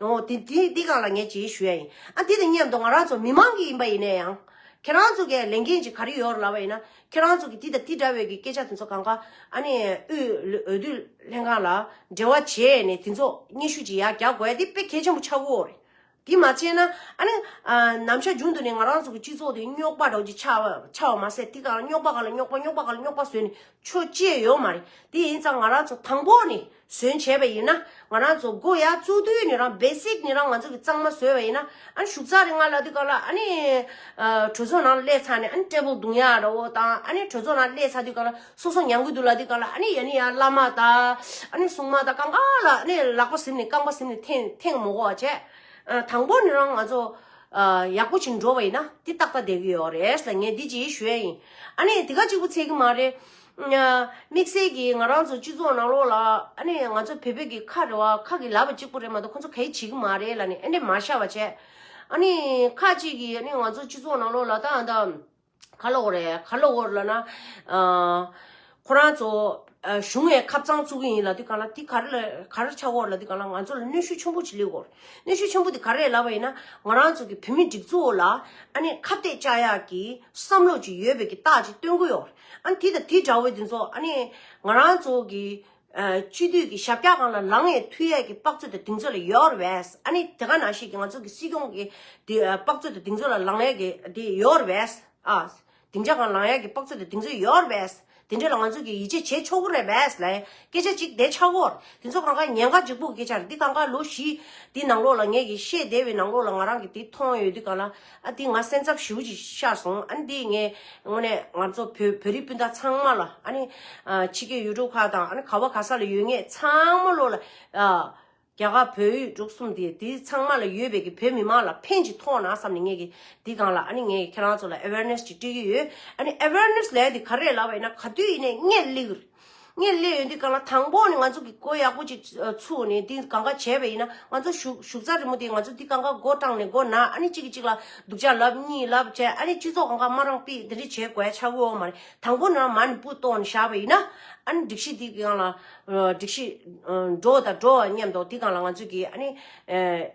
ཨོ། དེ་འདི་ག་ལ་ངས་བྱེད་ཞུ་ཡ་ཡིན། ཨ་འདི་ལྟ་སྙམ་དུ་ང་རང་ཚོ་མི་མང་གི་ཡིན་པ་ཡིན་ནས་ཡང། ཁྱེད་རང་ཚོ་གས་ལས་འགན་ཅིག་ག་རེ་ཡོད་རེད་ལབ་པ་ཡིན་ན། ཁྱེད་རང་ཚོ་གིས་འདི་དང་འདི་འདྲ་བའི་གི་སྐད་ཆ་དེ་ཚོ་གང་ག་ཨ་ནི་དབུས་འོས་བསྡུ་ལྷན་ཁང་ལ་འབྲེལ་བ་བྱས་ནས་དེ་ཚོ་སྙན་ཞུ་ཅིག་ཡ་རྒྱག་དགོས་ཡ་འདི་དཔེ་གལ་ཆེན་པོ་ཆགས་ཀོ་རེད། དེ་མ་བྱས་ན་ཨ་ནི། ནམ་ཞག་རྒྱུན་དུ་ནས་ང་རང་ཚོ་གི་སྤྱི་ཚོགས་དེ་རྙོག་པ་དྲག་ཅིག་ཆགས་ཆགས་བ་མ་ཟད་དེ་ག་རྙོག་པ་ག་ལ་རྙོག་པ་རྙོག་པ་ག་ལ་རྙོག་པ་བཟོས་ནས་ཆོས་བཅས་ཡོད་མ་རེད་དེ་ཡིན་ཙང་ང་རང་ཚོ་དང་པོ་ནས་ཟོན་བྱས་པ་ཡིན་ན་ང་རང་ཚོ་སྒོ་ཡ་བཙུགས་དུས་ནས་རང basic ནས་རང་ང་ཚོ་གི་གཙང་མ་བཟོས་པ་ཡིན་ན་ཨ་ནི་ཞུགས་ཚགས་རེ་ང་ལ་དུས་སྐབས་ལ་ཨ་ནི་གྲོས་ཚོགས་ནང་སླེབས་ཚར་ནས་ཨ་ནི་ཀྲེ་པོ་རྡུང་ཡ་ར་བོ་དང་ཨ་ནི་གྲོས་ཚོགས་ནང་སླེབས་ཚར་དུས་སྐབས་ལ་སོ་སོ་མྱང་གི་འདུག་ལ་དུས་སྐབས་ལ་ཨ་ནི་ཡ་ནི་ཡ་བླ་མ་དང་ཨ་ནི་སྲུང་མ་དང་གང་གང་ལ་ཨ་ནི་ལག་པ་གཟིམས་ནས་རྐང་པ་གཟིམས་ནས་ཐེངས་ཐེངས་མོ་གོ་བ་བྱས་དང་པོ་ནས་རང་ང་ཚོ་ཡག་པོ་བྱིན་འགྲོ་བ་ཡིན་ན་དེ་ཏག་ཏག་བསྡད་གི་ཡོད་རེད་ལ་ངས་འདི་གཅིག་ཞུ་ཡ་ཡིན་ཨ་ནི་དེ་ག་གཅིག་པུ་ཚད་གི་མ་རེད། དམིགས་བསལ་གྱིས་ང་རང་ཚོ་སྤྱི་ཚོགས་ནང་ལོགས་ལ་ཨ་ནེ་ང་ཚོ་བལ་བོད་ཀྱི་ཁ་རེ་བ་ཁ་གི་ལ་བ་གཅིག་པོ་རེད་མ་གཏོགས་ཁོ་ཚོ་ག་ཡིས་བྱེད་ཀྱི་མ་རེད་ལ་ནི་ཨ་ནེ་མ་ཤ་བ་བྱས། ཨ་ནི་ཁ་ཅིག་གིས་ཨ་ནི་ང་ཚོ་སྤྱི་ཚོགས་ནང་ལོགས་ལ་ད་ཨ་ད། ཁ་ལོ་རེད་ཁ་ལོ་བོར་ལ་ན། ཁོ་རང་ཚོ་གཞུང་ནས་ཁ་བཙང་བཙུགས་ཀྱི་ཡིན་ལ་དེ་ག་ལ་དེ་ག་རེ་ལ་ག་རེ་ཆགས་འོག་ལ་དེ་ག་ལ་ང་ཚོ་ལ་གནོད་ཤུགས་ཆེན་པོ་ཅིག་སླེབས་འོང། གནོད་ཤུགས་ཆེན་པོ་དེ་ག་རེ་ལ་བ་ཡིན་ན་ང་རང་ཚོ་གི་བོད་མི་སྒྲིག་འཛུགས་འོག་ལ་ཨ་ནེ་ཁ་གཏད་བཅག་ཡག་གི་བསམ་བློ་ཅིག་ཡོད་པའི་གི་རྟགས་ཅིག་སྟོན་གི་ཡོད། ཨ་ནི་དེ་དང་དེ་འདྲ་བོ་དེ་ཚོ་ཨ་ནི་ང་རང་ཚོ་གི་སྤྱི་མཐུས་ཀྱི་ཞབས་བཀྱག་ཁང་ལ་ལངས་ཡས་མཐུས་ཡས་ཀྱི་དཔག་ཚོད་དང་དེང་ཚོད་ལ་ཡོད་ར་བས་ཨ་ནི་དེ་ག་ནང་བཞིན་གྱི་ང་ཚོ་གི་སྲིད་སྐྱོང་གི་དཔག་ཚོད་དང་དེང་ཚོད་ལ་ལངས་ཡས་ཀྱི་དེ་ཡོད་ར་བས་ཨ་དེང་ཆ་གང་ལངས་ཡས་ཀྱི་དཔག་ཚོད་དང་དེང་ཚོད་ཡོད་ར་བས་དེ་འདྲ་ལ་ང་ཚོ་གི་ཡིད་ཆེས་བྱེད་ཆོག་གོ་ར་བས་ལ་སྐད་ཆ་གཅིག་བསྡད་ཆག་གོ་དེ་ཚོ་གང་ག་ཉན་ག་འཇིགས་པོ་གི་སྐད་ཆ་ར་འདི་གང་ག་ལོ་བཞི་དེ་ནང་ལོགས་ལ་ངས་གི་ཤེས་བསྡད་བའི་ནང་ལོགས་ལ་ང་རང་གི་དེ་མཐོང་ཡོད་དུས་གང་ལ་ཨ་ཏི་ང་སེམས་འཚབ་ཞུ་ཞེས་ཤར་སོང་ཨ་ནི་དེ་ངས་དངོས་གནས་ང་ཚོ་བོད་བོད་རིགས་སྤུན་ཟླ་ཚང་མ་ལ་ཨ་ནི་ཕྱི་རྒྱལ་ཡུལ་གྲུ་ཁག་དང་ཨ་ནི་ག་བ་ག་ས་ལ་ཡོད་ངེས་ཚང་མ་ལོ་ལ་རྒྱ་གར་བོད་ཡུལ་གྲུ་གསུམ་དེ་དེ་ཚང་མ་ལ་ཡོད་པའི་གི་བོད་མི་མང་ལ་ཕན་ཅིག་ཐོག་ན་བསམ་ནས་ངས་གི་དེ་གང་ལ་ཨ་ནི་ངས་ཁྱེད་རང་ཚོ་ལ awareness ཅིག་སྤྲོད་ཀྱི་ཡོད་ཨ་ནི awareness ལས་དེ་ག་རེ་ལ་བ་ཡིན་ན་ག་དུས་ཡིན་ནས་ངས་ལིག་ངས་གླས་ཡོད་འདི་གང་ལ་དང་པོ་ནི་ང་ཚོ་གི་སྒོ་ཡག་པོ་ཅིག་ཚུགས་ནས་འདི་གང་ག་བྱས་པ་ཡིན་ན་ང་ཚོ་ཞུགས་ཞུགས་རྩ་རི་མོ་དེ་ང་ཚོ་འདི་གང་ག་སྒོ་བཀྲངས་ནས་སྒོ་ན་ཨ་ནི་གཅིག་གི་གཅིག་ལ་སྡུག་ཅག་ལབ་གཉིས་ལབ་བཅས་ཨ་ནི་སྤྱི་ཚོགས་གང་ག་སྨ་རང་སྤི་འདི་འདྲ་བྱས་དགོས་ཆ་དགོས་འོ་མ་རེད་དང་པོ་ན་མ་ནི་སྤུ་བཏོགས་ནས་བཞག་པ་ཡིན་ན་ཨ་ནི་སྒྲིག་གཞི་འདི་གི་གང་ལ་སྒྲིག་གཞི་འགྲོ་དང་འགྲོ་བ་མཉམ་དོ་འདི་གང་ལ་ང་ཚོ་གི་ཨ་ནི་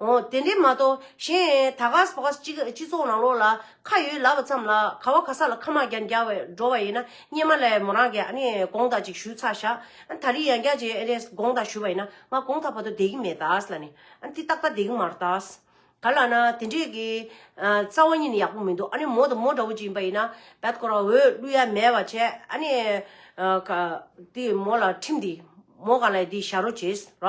འོ་དེ་འདྲས་མ་གཏོགས་གཞན་ད་གཟ་བཟས་སྤྱི་ཚོགས་ནང་ལོགས་ལ་ཁ་ཡོད་ལབ་པ་ཙམ་ལ་ག་བ་ག་ས་ལ་ཁ་མག་རྒྱ་འགྱ་བས་འགྲོ་བ་ཡིན་ན་སྙེ་མ་ལས་མོ་རང་གི་ཨ་ནེ་དགོངས་དག་ཅིག་ཞུས་ཚར་བཞག་ད་རི་ཡང་རྒྱ་ཅིག་ཨེ་རེད་དགོངས་དག་ཞུས་པ་ཡིན་ན་ང་དགོངས་དག་བ་དོ་བསྡད་ཀྱི་མེད་ད་ལ་ནི་འདི་ཏག་ཏག་བསྡད་ཀྱི་མ་རེད་ད་ག་ལ་ན་དེ་འདྲས་ཀྱི་རྩ་བ་གཉིས་ནི་ཡག་པོ་མི་འདུག་ཨ་ནེ་མོ་དང་མོ་འདྲ་བོ་ཅིག་ཡིན་པ་ཡིན་ན་བད་ཀོ་ར་འོས་བསླུ་ཡ་མེད་བ་བྱས་ཨ་ནེ་འདི་མོ་ལ་ཁྲིམས་འདི་མོ་ག་ལ་ཡི་འདི་བཞག་རོ་བྱས་ར།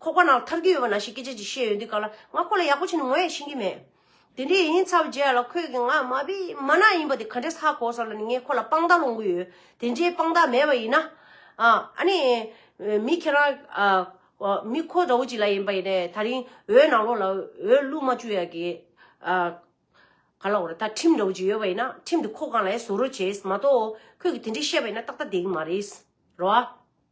ཁོག་པ་ནང་ཐར་གྱི་ཡོད་པ་ན་ཞེས་སྐད་ཆ་ཅིག་བཤད་ཡོད་འདི་ག་ལ་ང་ཁོ་ལ་ཡག་པོ་ཕྱི་ནས་ངོ་ཡང་ཤེས་ཀྱི་མེད། དེ་འདྲས་ཡིན་ཚར་རྗེས་ལ་ཁོས་ཀྱིས་ང་མ་བི་མ་ན་ཡིན་པ་དེ་ག་འདྲས་ཧ་གོ་སོང་ལ་ནི་ངས་ཁོ་ལ་དཔང་རྟགས་སློང་གི་ཡོད་དེ་འདྲའི་དཔང་རྟགས་མེད་པ་ཡིན་ན། ཨ་ནི། མི་ཁྱེད་རང། མི་ཁོ་འདྲ་བོ་ཅིག་ལ་ཡིན་པ་ཡིན་ནས་ད་རིང་འོད་ནང་ལོགས་ལ་འོད་བླུགས་མ་བཅུག་ཡག་གི། ག་ལ་འོ་རེད་ད་ཁྲིམས་འདྲ་བོ་ཅིག་ཡོད་པ་ཡིན་ན་ཁྲིམས་དེ་ཁོ་གང་ལ་ཡང་བཟོ་རོགས་བྱེད་མ་གཏོགས། ཁོས་ཀྱིས་དེ་འདྲས་བཤད་པ་ཡིན་ན་ཏག་ཏག་བསྡད་ཀྱི་མ་རེད། རོ་ཨ།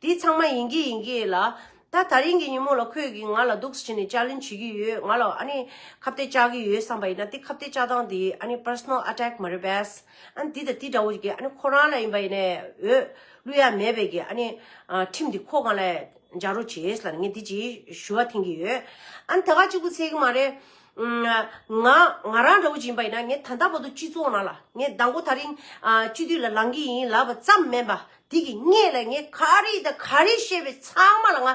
དེ་ཚང་མ་ཡིན་གྱི་ཡིན་གྱི་ལ། ད་ད་རིང་གི་ཉིན་མོ་ལ་ཁོས་གིས་ང་ལ་སྡུག་བྱས་ནས་ཅར་ལེན་བྱེད་ཀྱི་ཡོད་ང་ལ་ཨ་ནི་ཁ་བརྡའི་བཅག་གི་ཡོད་བསམ་པ་ཡིན་ན་དེ་ཁ་བརྡའི་བཅག་སྟངས་དེ་ཨ་ནི Personal Attack མ་རེད་པས། ཨ་ནི་དེ་དང་དེ་འདྲ་བོ་ཞིག་གིས་ཨ་ནི་ཁོ་རང་ལ་ཡིན་པ་ཡིན་ནས་འོས་བླུ་ཡ་མེད་པས་ཀྱི་ཨ་ནི་ཁྲིམས་དེ་ཁོ་གང་ལ་སྦྱར་རོགས་བྱས་ལ་ནི་ངས་དེ་ཅི་ཞུ་བ་འཐེན་གྱི་ཡོད། ཨ་ནི་ད་ག་གཅིག་པུ་ཚད་གི་མ་རེད། ང་ང་རང་འདྲ་བོ་ཞིག་ཡིན་པ་ཡིན་ན་ངས་ད་ལྟ་བར་དུ་སྤྱི་ཚོགས་ནང་ལ་ངས་ཟླ་མགོ་ད་རིང་སྤྱི་འཐུས་ལ་ལངས་ཀྱི་ཡིན་ལབ་པ་ཙམ་མིན་པ་དེ་གི་ངེད་ལ་ངས་ག་རེ་དང་ག་རེ་བཤད་པའི་ཚང་མ་ལ་ང་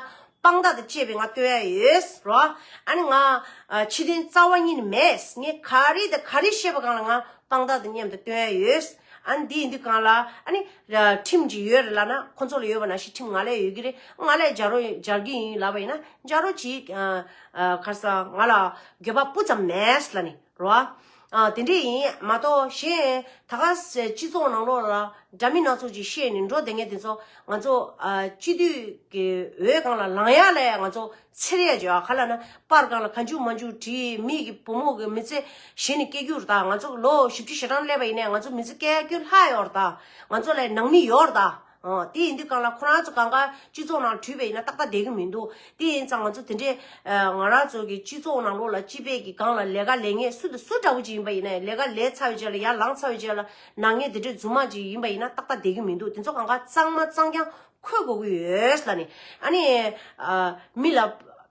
དཔང་རྟགས་དང་བཅས་པའི་ང་སྟོན་ཡ་ཡོད་རོ། ཨཱ་ནི་ང་ཕྱི་དོན་རྩ་བ་གཉིས་ནི་མེད། ངས་ག་རེ་དང་ག་རེ་བཤད་པ་གང་ལ་ང་དཔང་རྟགས་དང་མཉམ་དུ་སྟོན་ཡ་ཡོད། ཨཱ་ནི་འདི་འདི་གང་ལ་ཨཱ་ནི་ཁྲིམས་ཀྱི་ཡོད་རེད་ལབ་ན་ཁོ་ཚོ་ལ་ཡོད་པ་ནང་བཞིན་ཁྲིམས་ང་ལ་ཡོད་ཀྱི་རེད་ང་ལ་སྦྱར་རོ་སྦྱར་གྱི་ཡིན་ལབ་པ་ཡིན་ན་སྦྱར་རོ་གྱིས། ཁར་ས་ང་ལ་དགོས་པ་སྤུ་ཙམ་མེད་ལ་ནི། རོ། དེ་འདྲས་ཡིན། མ་གཏོགས་གཞན། ད་ག། སྤྱི་ཚོགས་ནང་ལོགས་ལ། འདྲ་མི་སྣ་ཚོགས་ཀྱིས་བཤད་ནས་འགྲོ་བསྡད་མཁན་དེ་ཚོ། ང་ཚོ། སྤྱི་འཐུས། ཀྱི་འོས་གང་ལ་ལངས་ཡ་ལས་ང་ཚོ། ཚེར་ཡས་བྱོས་ཨ་ག་ལ་ན། པར་བཀང་ལ་ག་འཇུག་མ་འཇུག་བྲིས། མི་གི་བུ་མོ་གི་མི་ཚེ། གཞན་ནི་སྐྱེལ་རྒྱུར་གདའ། ང་ཚོ་ལོ་བཞི་བཅུ་ཞེ་གྲངས་སླེབས་པ་ཡིན་ནས་ང་ཚོ་མི་ཚེ་སྐྱལ་རྒྱུ་ལྷག་ཡོར་གདའ། ང་ཚོ་ལས་ནང་མི་ཡོར་གདའ། དེ་ཡིན་དུས་གང་ལ་ཁོ་རང་ཚོ་གང་ག་སྤྱི་ཚོགས་ནང་འཁྲུལ་པའི་ཡིན་ན་ཏག་ཏག་བསྡད་ཀྱི་མི་འདུག་དེ་ཡིན་ཙང་ང་ཚོ་དེ་འདྲའི་ང་རང་ཚོ་གི་སྤྱི་ཚོགས་ནང་ལོགས་ལ་སྤྱི་པའི་གི་གང་ལ་ལས་ཀ་ལས་ངན་སུ་དང་སུ་འདྲ་བོ་ཅིག་ཡིན་པ་ཡིན་ན་ལས་ཀ་ལས་ཚར་བའི་རྗེས་ལ་ཡར་ལངས་ཚར་བའི་རྗེས་ལ་ནང་ངན་དེ་འདྲའི་རྫུན་མ་ཅིག་ཡིན་པ་ཡིན་ན་ཏག་ཏག་བསྡད་ཀྱི་མི་འདུག་དེ་ཚོ་གང་ག་གཙང་མ་གཙང་རྐྱང་འཁོད་དགོས་ཀྱི་ཡོད་ལ་ནི་ཨ་ནི་མི་ལ།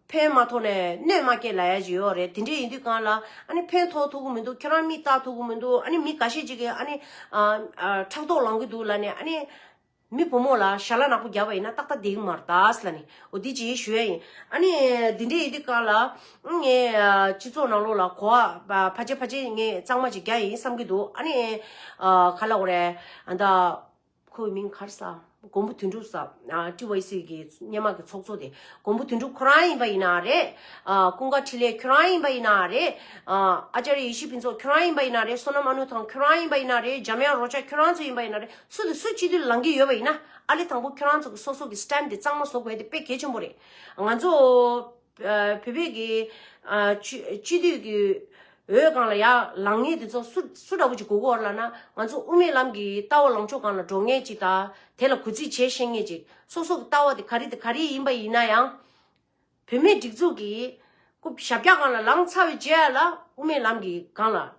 ཕན་མ་ཐོག་ནས་གནོད་མ་སྐྱེལ་ལ་ཡ་ཇི་ཡོག་རེད་དེ་འདྲས་ཡིན་དུས་གང་ལ་ཨ་ནི་ཕན་ཐོག་ཐུག་གི་མི་འདུག་ཁྱོད་རང་མིས་བརྟག་ཐུག་གི་མི་འདུག་ཨ་ནི་མི་ག་ཤེད་ཅིག་གིས་ཨ་ནི་ཕྲག་དོག་ལང་གི་འདུག་ལ་ནི་ཨ་ནི་མི་བུ་མོ་ལ་ཞྭ་ལ་ནག་པོ་རྒྱབ་པ་ཡིན་ན་ཏག་ཏག་དེའི་མར་དྭགས་ལ་ནི་འོ་དེ་ཇི་ཞུ་ཡ་ཡིན་ཨ་ནི་དེ་འདྲས་ཡིན་དུས་གང་ལ་ཨ་ངའི་སྤྱི་ཚོགས་ནང་ལོགས་ལ་གོ་བ་ཕ་ཆེ་ཕ་ཆེ་ངས་གཙང་མ་ཅིག་རྒྱག་ཡིན་བསམ་གི་འདུག་ཨ་ནི་ག་ལ་འོ་རེད་ཨ་མདའ། ཁོ་བོའི་མིང་གར་ས། མགོན་པོ་དོན་གྲུབ་ས། TYC གི་སྙན་མག་གི་ཚོགས་གཙོ་དེ། མགོན་པོ་དོན་གྲུབ་ཁོ་རང་ཡིན་པ་ཡིན་ན་རེད། ཀུན་དགའ་འཕྲིན་ལས་ཁྱོད་རང་ཡིན་པ་ཡིན་ན་རེད། ཨཅཱརྱ་ཡེ་ཤེས་ཕུན་ཚོགས་ཁྱོད་རང་ཡིན་པ་ཡིན་ན་རེད། བསོད་ནམས་ཨ་ནུ་ཐང་ཁྱོད་རང་ཡིན་པ་ཡིན་ན་རེད། འཇམ་དབྱངས་རོ་ཅག་ཁྱོད་རང་ཚོ་ཡིན་པ་ཡིན་ན་རེད། སུ་དང་སུ་སྤྱི་འཐུས་ལ་ལངས་ཀྱི་ཡོད་པ་ཡིན་ན། ཨ་ལེ་དང་པོ་ཁྱོད་རང་ཚོ་གི་སོ་སོ་གི Stand དེ་གཙང་མ་བཟོ་དགོས་དེ་དཔེ་གལ་ཆེན་པོ་རེད། ང་ཚོ། བོད་པའི་དགེ། སྤྱི་འཐུས་ཀྱི། འོས་གང་ལ་ཡ། ལངས་ངེས་དེ་ཚོ་སུ། སུ་འདྲ་པོ་ཅིག་གོ་གོ་བར་ལགས་ན། ང་ཚོ་དབུ་མའི་ལམ་གྱི་ལྟ་བ་ལོངས་ཕྱོགས་གང་ལ་འགྲོ་ངེས་ཅིག་དང། དེ་ལ་གུས་བརྩི་བྱེད་ཤེས་ངེས་ཅིག། སོ་སོ་གི་ལྟ་བ་དེ་ག་རེ་དེ་ག་རེ་ཡིན་པ་ཡིན་ན་ཡང། བོད་མིའི་སྒྲིག་འཛུགས་ཀྱི། ཞབས་རྒྱ་གང་ལ་ལངས་ཚར་བའི་རྗེས་ལ་དབུ་མའི་ལམ་གྱི་གང་ལ།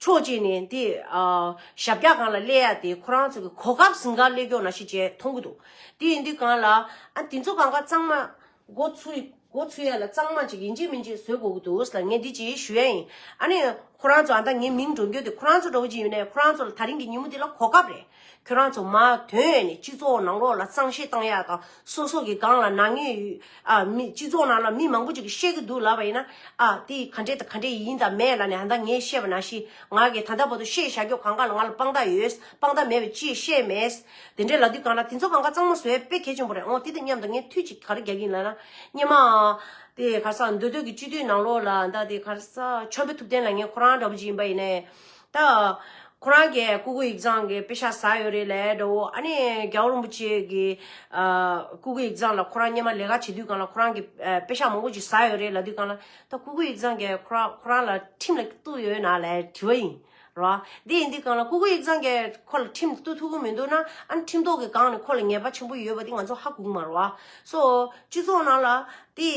ཕྱོགས་གཅིག་ནས་དེ། ཞབས་བཀྱག་གང་ལ་སླེ་ཡ་དེ་ཁོ་རང་ཚོ་གི་གོ་སྐབས་ཟིན་ག་སླེ་སྐྱོག་ན་ཤི་བྱས་མཐོང་གི་འདུག་དེ་ཡིན་དུས་གང་ལ། ཨ་དེ་ཚོ་གང་ག་གཙང་མ། སྒོ་ཚུ། སྒོ་ཚུ་ཡ་ལ་གཙང་མ་ཅིག་ཡིན་གཅིག་མིན་གཅིག་བཟོས་དགོས་ཀྱི་འདུག་ས་ལ་ངས་འདི་གཅིག་ཞུ་ཡ་ཡིན། ཨ་ནི། ཁོ་རང་ཚོ་ཨ་མདའ་ངའི་མིང་འགྲོ་འགྱོ་དེ་ཁོ་རང་ཚོ་འགྲོ་གི་ཅིག་ཡོད་ནའི་ཁོ་རང་ཚོ་ལ་ད་རིང་གི་ཉིན་མོ་འདི་ལ་གོ་སྐབས་རེད། ཁྱོད་རང་ཚོ་མ་དོན་ནས་སྤྱི་ཚོགས་ནང་ལོགས་ལ་གཙང་བཤེར་གཏང་ཡག་དང་སོ་སོ་གི་སྒང་ལ་ནག་ཉེས་ཡོད་ཨ་མི་སྤྱི་ཚོགས་ནང་ལ་མི་མང་པོ་ཅིག་གིས་བཤད་གི་འདུག་ལབ་པ་ཡིན་ན་ཨ་དེ་ག་འདྲེ་དང་ག་འདྲེ་ཡིན་དང་མེད་ལ་ནི་ཨ་མདའ་ངས་བཤད་པ་ན་ཤི་ང་གི་ད་ལྟ་བར་དུ་བཤད་བྱ་རྒྱོ་གང་ག་ལ་ང་ལ་དཔང་རྟགས་ཡོད་དཔང་རྟགས་མེད་པའི་ཅི་བཤད་མེད་དེ་འདྲེ་ལ་དུས་གང་ལ་དེ་ཚོ་གང་ག་གཙང་མ་བཟོས་དཔེ་གལ་ཆེན་པོ་རེད་འོང་དེ་དང་མཉམ་དུ་ངས་ཐུགས་གཅིག་ག་རེ་རྒྱག་གིན་ལ་ན་སྙེ་མ་དེ་ག་ས་འདོད་འདོད་ཀྱི་སྤྱི་འཐུས་ནང་ལོགས་ལ་ཨ་མདའ་དེ་ག་ས་ཆོམ་པོ་ཐུབ་བསྟན་ལ་ངས་ཁོ་རང་འདྲ་པོ་ཅིག་ཡིན་པ་ཡིན་ནའི་ད། ཁོ་རང་གི་སྐུ་གུ་ཡིག་ཚང་གི་དཔེ་ཆ་ཟ་ཡོད་རེད་ལས་ད་འོ་ཨ་ནི་རྒྱ་བོ་རིན་པོ་ཆེ་གི་སྐུ་གུ་ཡིག་ཚང་ལ་ཁོ་རང་སྙེ་མ་ལས་ཀ་བྱེད་དུས་གང་ལ་ཁོ་རང་གི་དཔེ་ཆ་མང་པོ་ཞིག་ཟ་ཡོད་རེད་ལ་དུས་གང་ལ་ད་སྐུ་གུ་ཡིག་ཚང་གི་ཁོ་རང་ཁོ་རང་ལ་ཁྲིམས་ལ་གཏུགས་ཡོད་ན་ལས་དྲི་བ་ཡིན་རོ། དེ་ཡིན་དུས་གང་ལ་སྐུ་གུ་ཡིག་ཚང་གི་ཁོ་ལ་ཁྲིམས་གཏུགས་ཐུབ་ཀྱི་མི་འདུག་ན་ཨ་ནི་ཁྲིམས་ཐོག་གི་སྒང་ནས་ཁོ་ལ་ངེས་པ་ཆེན་པོ་ཡོད་པ་དེ་ང་ཚོ་ཧ་གོ་གི་མ་རོ། སོ་སྤྱི་ཚོགས་ནང་ལ་དེ་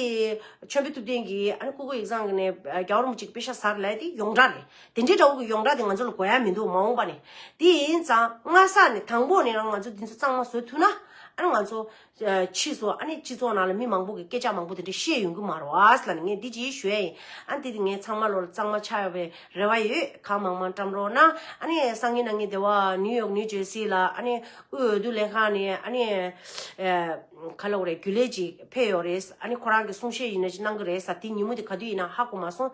མཆོད་འབུལ་ཐུབ་བསྟན་གྱིས་ཨ་ནི་སྐུ་གུ་ཡིག་ཚང་གི་ནས་རྒྱ་བོ་རིན་པོ་ཆེ་གི་དཔེ་ཆ་ཟ་རེད་ལས་དེ་ཡོངས་གྲགས་རེད། དེ་འདྲའི་དགྲ་བོ་གི་ཡོངས་གྲགས་དེ་ང་ཚོ་ལ་གོ་ཡ་མི་འདུག་མ་འོངས་པ་ནས་དེ་ཡིན་ཙང་སྔ་ས་ནས་དང་པོ་ནས་རང་ང་ཚོ་འདི་ཚོ་གཙང་མ་བཟོ་ཐུབ་ན་ཨ་ར་ང་ཚོ་ཕྱིས་སུ་ཨ་ནི་སྤྱི་ཚོགས་ནང་ལ་མི་མང་པོ་གི་སྐད་ཆ་མང་པོ་དེ་འདྲ་བཤད་ཡོང་གི་མ་རོ་ཨཱས་ལ་ནི་ངས་འདི་ཅིག་ཞུ་ཡ་ཡིན་ཨ་འདི་དེ་ངས་ཚང་མ་ལོ་ལ་གཙང་མ་ཆགས་ཡོང་བའི་རེ་བ་ཡོད་གང་མང་མང་བཀྲམ་རོགས་གནང་ཨ་ནི་སང་ཉིན་ན་ངའི་སྡེ་བ་ནིའུ་ཡོག་ནིའུ་ཇེར་སི་ལ་ཨ་ནི་དབུས་འོས་བསྡུ་ལས་ཁང་ནས་ཨ་ནི་ག་ལ་འོ་རེད་རྒྱུན་ལས་ཅིག་ཕེབས་ཡོང་རེད་ཨ་ནི་ཁོ་རང་གི་གསུང་བཤད་ཡིན་ན་ཅིག་གནང་གི་རེད་ས་དེ་ཉིན་མོ་དེ་ག་དུས་ཡིན་ནའང་ཧ་གོ་མ་སོང་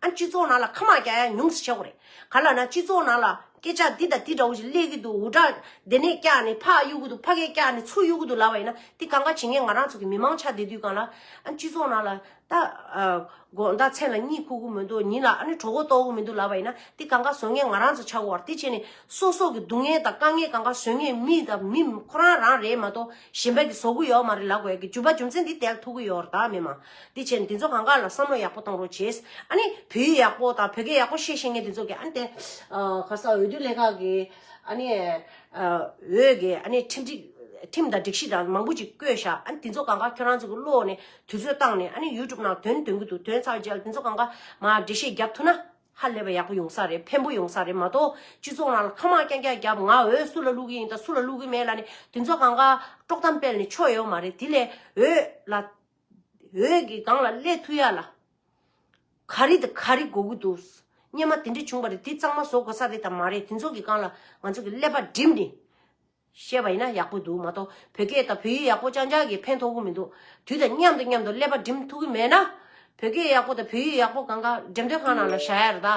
ཨ་སྤྱི་ཚོགས་ནང་ལ་ཁ་མང་རྒྱ་ཡང་ཉུང་ཟེར་ཆོག་གི་རེད་ག་ལ་ན་སྤྱི་ཚོགས་ནང་ལ་སྐད་ཆ་འདི་དང་འདི་འདྲ་བོ་ཞིག་གླེགས་ཀི་འདུག་འུར་སྒྲ་འདི་ནས་བཀྱགས་ནས་ཕག་གཡུག་གི་འདུག་ཕ་གས་བཀྱགས་ནས་ཚུར་གཡུག་གི་འདུག་ལབ་པ་ཡིན་ན་དེ་གང་ག་བྱེད་ངེས་ང་རང་ཚོ་གི་མི་མང་ཆགས་བསྡད་དུས་གང་ལ་ཨ་སྤྱི་ཚོགས་ནང་ལ་ད་དགོངས་དག་མཚན་ལ་གཉིད་ཁུག་གི་མི་འདུག་ཉིན་ལ་ཨ་ནི་གྲོགས་པོ་རྟོགས་གི་མི་འདུག་ལབ་པ་ཡིན་ན་དེ་གང་ག་བཟོ་ངེས་ང་རང་ཚོ་ཆགས་འོར་དེ་བྱས་ནས་སོ་སོ་གི་སྡུག་བསྔལ་དང་དཀའ་ངལ་གང་ག་བཟོ་ངེས་མི་དང་མི་ཁོ་རང་རང་རེད་མ་གཏོགས་གཞན་པ་གི་བཟོ་གི་ཡོག་མ་རེད་ལབ་དགོས་ཀི་རྒྱུ་བ་རྒྱུ་མཚན་དེ་དལ་ཐུག་གི་ཡོག་རེད་ད་མི་མང། དེ་བྱས་ནས་དེ་ཚོ་གང་དགར་ལ་བསམ་བློ་ཡག་པོ་གཏོང་རོགས་བྱས། ཨ་ནི་བོད་ཡིག་ཡག་པོ་དང་བོད་སྐད་ཡག་པོ་བཤད་ཤེས་མཁན་དེ་ཚོ་གིས་ཨ་ནི་དེ། ཁ་སང་འོས་བསྡུ་ལས་ཁག་གིས་ཨ་ནི། འོས་ཀྱི་ཨ་ནི་ཁྲིམས་སྒྲིག་ཁྲིམས་དང་སྒྲིག་གཞི་དང་མང་པོ་ཅིག་བཀོད་བཞག་ཨ་ནི་དེ་ཚོ་གང་དགར་ཁྱོད་རང་ཚོ་གི་བློ་ནས་དུས་ཚོད་བཏང་ནས་ཨ་ནི YouTube ནང་དོན་འདོན་གྱི་འདུག་དོན་ཚར་རྗེས་ལ་དེ་ཚོ་གང་དགར་མ་འགྲེལ་བཤད་རྒྱབ་ཐུབ་ན། ཧ་ལས་པ་ཡག་པོ་ཡོང་ས་རེད་ཕན་པོ་ཡོང་ས་རེད་མ་གཏོགས་སྤྱི་ཚོགས་ནང་ལ་ཁ་མང་རྐྱང་རྐྱང་རྒྱབ་ང་འོས་སུ་ལ་བླུག་གི་ཡིན་དང་སུ་ལ་བླུག་གི་མེད་ལ་ནི་དེ་ཚོ་གང་དགར་དཀྲོག་གཏམ་སྤེལ་ནས་ཆོ་ཡོད་མ་རེད་དེ་ལས་འོས་ལ། འོད་ཀྱི་སྒང་ལ་སླེ་ཐུ་ཡ་ལ། ག་རེ་དང་ག་རེ་འགོ་གི་འདུག། སྙེ་མ་དེ་འདྲ་བྱུང་བ་རེད་དེ་གཙང་མ་བཟོ་དགོས་ས་རེད་དམ་མ་རེད་དེ་ཚོ་གི་སྒང་ལ་ང་ཚོ་གི་ཀླད་པ་བསྒྲིམས་ནས། བཤད་པ་ཡིན་ན་ཡག་པོ་འདུག་མ་གཏོགས་བོད་སྐད་དང་བོད་ཡིག་ཡག་པོ་ཅང་ཅང་གིས་ཕན་ཐོག་གི་མི་འདུག་དུས་དང་མཉམ་དུ་མཉམ་དུ་ཀླད་པ་བསྒྲིམས་ཐུབ་ཀི་མེད་ན། བོད་སྐད་ཡག་པོ་དང་བོད་ཡིག་ཡག་པོ་གང་ག་འགྲེམས་སྟོན་ཁང་ནང་ལ་བཞག་ཡ་རེད་ད།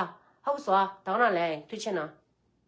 ཧ་གོ་བཟོ་ཨ་ད་ག་ནང་ལའི་ཡིན་ཐུ་ཆེ་ན།